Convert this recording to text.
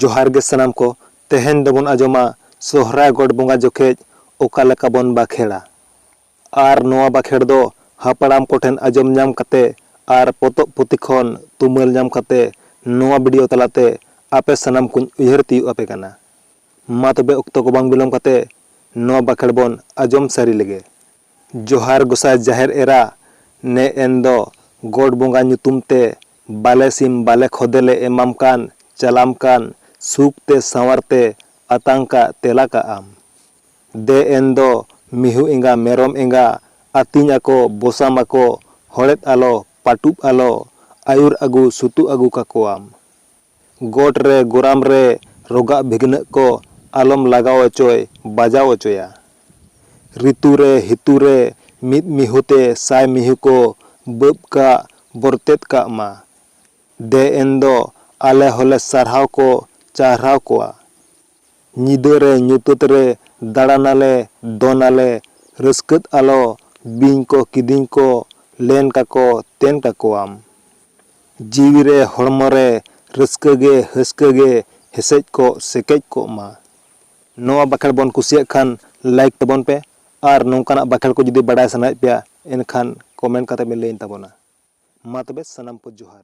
ᱡᱚᱦᱟᱨ ᱜᱮ ᱥᱟᱱᱟᱢ ᱠᱚ ᱛᱮᱦᱮᱧ ᱫᱚᱵᱚᱱ ᱟᱸᱡᱚᱢᱟ ᱥᱚᱦᱨᱟᱭ ᱜᱚᱴ ᱵᱚᱸᱜᱟ ᱡᱚᱠᱷᱮᱡ ᱚᱠᱟ ᱞᱮᱠᱟ ᱵᱚᱱ ᱵᱟᱠᱷᱮᱲᱟ ᱟᱨ ᱱᱚᱣᱟ ᱵᱟᱠᱷᱮᱲ ᱫᱚ ᱦᱟᱯᱲᱟᱢ ᱠᱚᱴᱷᱮᱱ ᱟᱸᱡᱚᱢ ᱧᱟᱢ ᱠᱟᱛᱮ ᱟᱨ ᱯᱚᱛᱚᱵ ᱯᱩᱛᱷᱤ ᱠᱷᱚᱱ ᱛᱩᱢᱟᱹᱞ ᱧᱟᱢ ᱠᱟᱛᱮ ᱱᱚᱣᱟ ᱵᱷᱤᱰᱤᱭᱳ ᱛᱟᱞᱟᱛᱮ ᱟᱯᱮ ᱥᱟᱱᱟᱢ ᱠᱚᱧ ᱩᱭᱦᱟᱹᱨ ᱛᱤᱭᱳᱜ ᱟᱯᱮ ᱠᱟᱱᱟ ᱢᱟ ᱛᱚᱵᱮ ᱚᱠᱛᱚ ᱠᱚ ᱵᱟᱝ ᱵᱤᱞᱚᱢ ᱠᱟᱛᱮ ᱱᱚᱣᱟ ᱵᱟᱠᱷᱮᱲ ᱵᱚᱱ ᱟᱸᱡᱚᱢ ᱥᱟᱹᱨᱤ ᱞᱮᱜᱮ ᱡᱚᱦᱟᱨ ᱜᱚᱥᱟᱭ ᱡᱟᱦᱮᱨ ᱮᱨᱟ ᱱᱮ ᱮᱱ ᱫᱚ ᱜᱚᱰ ᱵᱚᱸᱜᱟ ᱧᱩᱛᱩᱢ ᱛᱮ ᱵᱟᱞᱮ ᱥᱤᱢ ᱵᱟᱞᱮ ᱠᱷᱚᱫᱮ ᱞᱮ ᱮᱢᱟᱢ ᱠᱟᱱ ᱪᱟᱞᱟᱢ ᱠᱟᱱ ᱥᱩᱠ ᱛᱮ ᱥᱟᱶᱟᱨ ᱛᱮ ᱟᱛᱟᱝ ᱠᱟᱜ ᱛᱮᱞᱟ ᱠᱟᱜ ᱟᱢ ᱫᱮ ᱮᱱ ᱫᱚ ᱢᱤᱦᱩ ᱮᱸᱜᱟ ᱢᱮᱨᱚᱢ ᱮᱸᱜᱟ ᱟᱹᱛᱤᱧ ᱟᱠᱚ ᱵᱚᱥᱟᱢ ᱟᱠᱚ ᱦᱚᱲᱮᱫ ᱟᱞᱚ ᱯᱟᱹᱴᱩᱵ ᱟᱞᱚ ᱟᱹᱭᱩᱨ ᱟᱹᱜᱩ ᱥᱩᱛᱩᱜ ᱟᱹᱜᱩ ᱠᱟᱠᱚᱣᱟᱢ ᱜᱚᱴ ᱨᱮ ᱜᱚᱨᱟᱢ ᱨᱮ ᱨᱚᱜᱟᱜ ᱵᱷᱤᱜᱽᱱᱟᱹᱜ ᱠᱚ ᱟᱞᱚᱢ ᱞᱟᱜᱟᱣ ᱚᱪᱚᱭ ᱵᱟᱡᱟᱣ ᱚᱪᱚᱭᱟ᱾ ᱨᱤᱛᱩ ᱨᱮ ᱦᱤᱛᱩ ᱨᱮ ᱢᱤᱫ ᱢᱤᱦᱩ ᱛᱮ ᱥᱟᱭ ᱢᱤᱦᱩ ᱠᱚ ᱵᱟᱹᱵᱽ ᱠᱟᱜ ᱵᱚᱨᱛᱮᱫ ᱠᱟᱜ ᱢᱟ᱾ ᱫᱮ ᱮᱱ ᱫᱚ ᱟᱞᱮ ᱦᱚᱸᱞᱮ ᱥᱟᱨᱦᱟᱣ ᱠᱚ ᱪᱟᱦᱨᱟᱣ ᱠᱚᱣᱟ᱾ ᱧᱤᱫᱟᱹ ᱨᱮ ᱧᱩᱛᱟᱹᱛ ᱨᱮ ᱫᱟᱬᱟᱱ ᱟᱞᱮ ᱫᱚᱱ ᱟᱞᱮ ᱨᱟᱹᱥᱠᱟᱹᱫ ᱟᱞᱚ ᱵᱤᱧ ᱠᱚ ᱠᱤᱫᱤᱧ ᱠᱚ ᱞᱮᱱ ᱠᱟᱠᱚ ᱛᱮᱱ ᱠᱟᱠᱚᱣᱟᱢ᱾ ᱡᱤᱣᱤ ᱨᱮ ᱦᱚᱲᱢᱚ ᱨᱮ ᱨᱟᱹᱥᱠᱟᱹ ᱜᱮ ᱦᱟᱹᱥᱠᱟᱹ ᱜᱮ ᱦᱮᱥᱮᱡ ᱠᱚᱜ ᱥᱮᱠᱮᱡ ᱠᱚᱜ ᱢᱟ᱾ ᱱᱚᱣᱟ ᱵᱟᱠᱷᱮᱬ ᱵᱚᱱ ᱠᱩᱥᱤᱭᱟᱜ ᱠᱷᱟᱱ ᱞᱟᱭᱤᱠ ᱛᱟᱵᱚᱱ ᱯᱮ ᱟᱨ ᱱᱚᱝᱠᱟᱱᱟᱜ ᱵᱟᱠᱷᱮᱬ ᱠᱚ ᱡᱩᱫᱤ ᱵᱟᱰᱟᱭ ᱥᱟᱱᱟᱭᱮᱫ ᱯᱮᱭᱟ ᱮᱱᱠᱷᱟᱱ ᱠᱚᱢᱮᱱᱴ ᱠᱟᱛᱮ ᱵᱮᱱ ᱞᱟᱹᱭᱟᱹᱧ ᱛᱟᱵᱚᱱᱟ᱾ ᱢᱟ ᱛᱚᱵᱮ ᱥᱟᱱᱟᱢ ᱠᱚ ᱡᱚᱦᱟᱨ᱾